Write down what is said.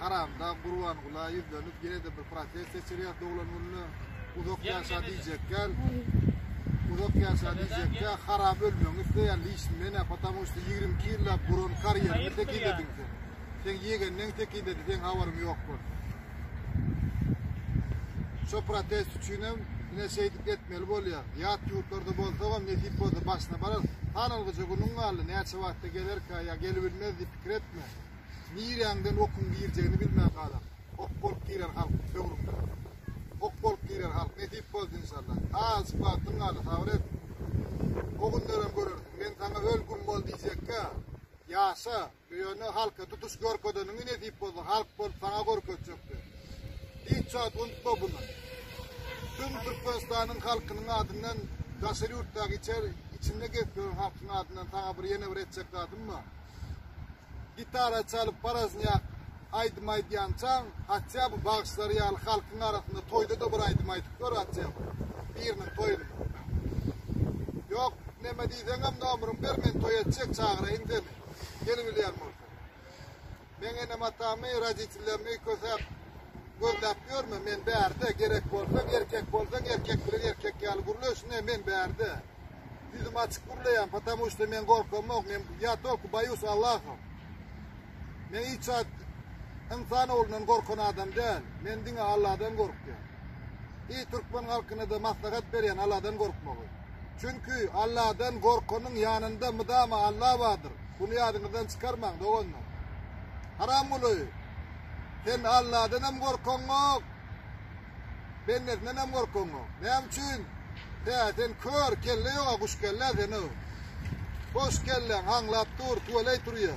Haramda Gurban Gula ýüzlenip ýene-de bir protest geçirýär doglan gününe. Uzak ýaşa diýjekler. Uzak ýaşa diýjekler. Haram ölmegiňi isleýär. Liçin men apatam üçin 22 ýyllap guran karýerini tekizlediň sen. Sen ýegenden tekizledi, sen habaryň ýok bol. Şu protest üçin hem ine şeýdip etmeli bolýar. Ýat ýurtlarda bolsa hem nesip bolsa başyna barar. Sanalgyja günüň galdy, näçe wagtda gelerkä ýa gelibilmez diýip pikir etme. Nirýäňden okuň girjegini bilmän galar. Ok bolup girer halk böwrüňde. Ok bolup girer halk. Nesip bolsa inşallah. Azjyk wagtyň galdy, sabyr et. O günlerem görersiň. Men saňa öl güm bol diýjekkä. Ýaşa. Bu ýöne halka tutuş görkezeniňi nesip bolsa halk bolup saňa görkezjekdi. Hiç zat unutma bunu. Tüm Türkmenistanyň halkynyň adyndan daşary ýurtdaky içer içinde gezip ýören halkyň adyndan saňa bir ýene bir etjek zadym bar. Gitara çalyp parazniýak aýdym aýdýançaň, hatda bu bagşylar ýaly halkyň arasynda toýda da bir aýdym aýdyp gör hatda. Biriniň toýunda. Ýok, näme diýseňem nomeryňi ber, men toý etjek çagyraýyn seni. Ýene bilýän bolsa. Men enem atamy, roditellerimi kösäp gözläp ýörme, men bärde gerek bolsa, erkek bolsa, erkek bilen erkek ýaly gürleşine, men bärde. Ýüzüm açyk gürleýän, patamu işte men gorkam ýok, men ýa tolku baýus Allahym. Men hiç at insan oglundan gorkan adam däl. Men diňe Allahdan gorkýan. Eý türkmen halkynada maslahat berýän Alladan gorkmagy. Çünki Alladan gorkanyň ýanynda mydama Alla bardyr. Bunu ýadyňyzdan çykarmaň doganlar. Haram guly. Sen Alladan hem gorkaň ok. Bendesinden hem gorkaň ok. Näme üçin? He, sen kör kelle ýoga guş kelle sen o. Boş kelle aňlap dur, tuweley turýa.